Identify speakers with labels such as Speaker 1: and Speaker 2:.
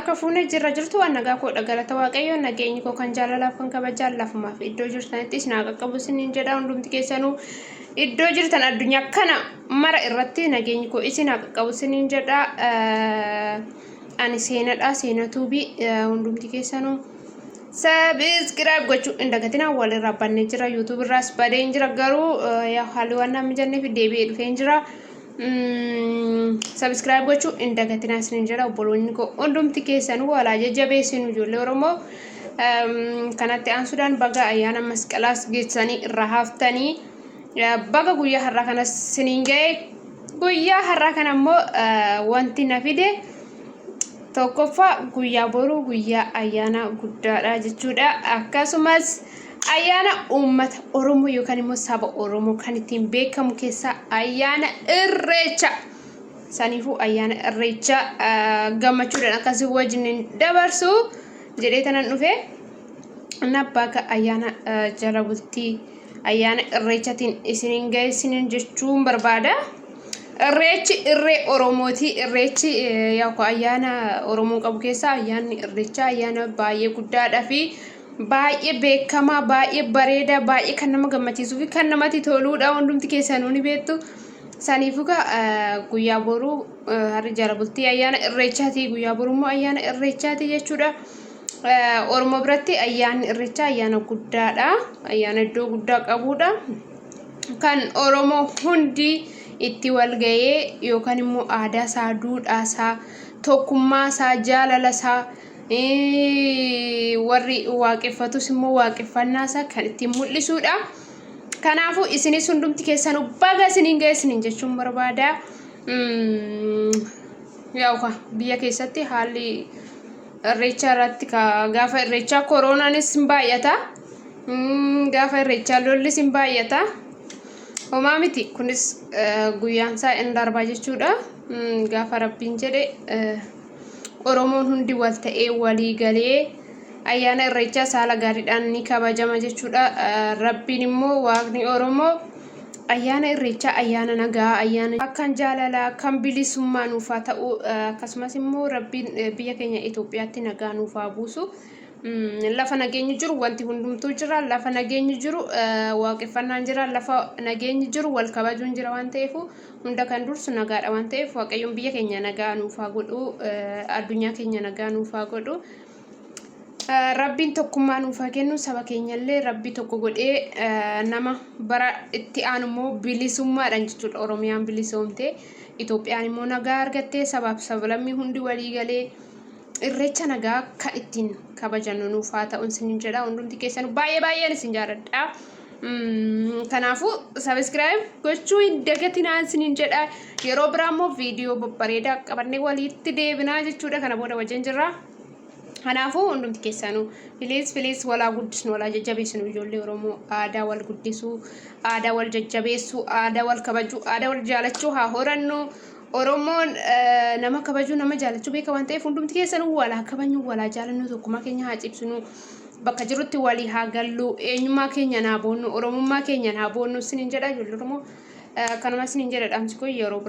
Speaker 1: Akka fuune jirra jirtu waan nagaa koodha galata waaqayyoo nageenyi koo kan jaalalaaf kan kabajaan lafumaaf iddoo jirtanitti isin haa qaqqabu isiniin jedha hundumti keessanuu iddoo jirtan addunyaa kana mara irratti nageenyi koo isin haa qaqqabu isiniin jedha ani seenadha seenatuubi hundumti keessanuu sabiskiraayib gochuu hin dagatinaa walirraa bannee jira yuutuubirraas badeen jira garuu yaa haalli waan naamni jenneef deebi'ee dhufeen jira. Sabiskiraayib gochuu hin dagatinaa isiniin jedha obboloonni koo hundumti keessan walaa jajjabeessinu ijoollee Oromoo kanatti aansuudhaan baga ayyaana masqalaas geessanii irraa haaftanii baga guyyaa har'aa kanas isiniin ga'e guyyaa har'aa kana immoo wanti na fide tokkoffaa guyyaa boruu guyyaa ayyaana guddaadha jechuudha akkasumas Ayyaana uummata Oromoo yookaan immoo saba Oromoo kan ittiin beekamu keessaa ayyaana irreecha. Saniifuu ayyaana irreecha gammachuudhaan akkasii wajjin dabarsu jedhee tanan dhufe. Nabbaaga ayyaana jala bultii ayyaana irreechatiin isiniin ga'eessiniin jechuun barbaada. Irreechi irree Oromooti. Irreechi yookaan ayyaana Oromoon qabu keessaa ayyaanni irreechaa ayyaana baay'ee guddaadhaa fi baay'ee beekamaa baay'ee bareedaa baay'ee kan nama gammachiisuu fi kan namatti toluudha hundumti keessanuu ni beektu saniifuu gaa eh, guyyaa boruu eh, harri jala bultii ayyaana irreechaati guyyaa boruu immoo ayyaana irreechaati jechuudha Eh, oromoo biratti ayyaanni irreechaa ayyaana guddaadha ayyaana iddoo guddaa qabuudha kan oromoo hundi itti walga'ee yookaan immoo aadaa isaa duudhaa isaa tokkummaa isaa jaalala isaa warri waaqeffatus immoo waaqeffannaa isaa kan ittiin mul'isuudha. Kanaafuu isinis hundumti keessanuu baga isiniin ga'e isiniin jechuun barbaada. Yaa'u biyya keessatti haalli irreechaa irratti gaafa irreechaa kooroonaanis hin baay'ata. Gaafa irreechaa lollis hin baay'ata. Homaa miti kunis guyyaan isaa hin darba jechuudha. Gaafa rabbiin jedhe. Oromoon hundi wal ta'ee walii galee ayyaana irreechaa saala gaariidhaan ni kabajama jechuudha. Rabbiin immoo waaqni Oromoo ayyaana irreechaa ayyaana nagaa ayyaana kan jaalalaa kan bilisummaa nuuf haa ta'u akkasumas immoo rabbiin biyya keenya Itoophiyaatti nagaa nuuf haa buusu. Lafa nageenyi jiru wanti hundumtuu jira lafa nageenyi jiru waaqeffannaan jira lafa nageenyi jiru wal kabajuun jira waan ta'eef Hunda kan dursu nagaadha waan ta'eef Waaqayyoon biyya keenya nagaa nuuf haa godhu, addunyaa keenya nagaa nuuf haa godhu. Rabbiin tokkummaa nuuf haa kennu saba keenyallee rabbi tokko godhee nama bara itti aanu immoo bilisummaadhaan jechuudha Oromiyaan bilisoomte Itoophiyaan immoo nagaa argattee sabaaf sablammii hundi walii galee Irreecha nagaa kan ittiin kabajannu nuuf haa ta'u isinin jedha hundumti keessan baay'ee baay'een isin jaaladha. Kanaafuu sabiskiraayib gochuu hin dagatinaa isinin jedha yeroo biraa immoo viidiyoo babbareedaa qabannee walitti deebinaa jechuudha kana booda wajjin jirra. Kanaafuu hundumti keessanuu filiis filiis walaa guddisnu walaa jajjabeessinu ijoollee Oromoo aadaa wal guddisuu aadaa wal jajjabeessuu aadaa wal kabajuu aadaa wal jaalachuu haa horannu. Oromoon nama kabajuu nama jaalachuu beeka waan ta'eef hundumti keessanuu walaa kabajnu walaa jaalannuu tokkummaa keenya haa cimsinu bakka jirutti walii haa gallu eenyummaa keenyaan haa boonnu oromummaa keenyaan haa boonnu isiniin jedha ijoollee Oromoo eh, kanuma isiniin jedha dhaamsi koo yeroo biraa.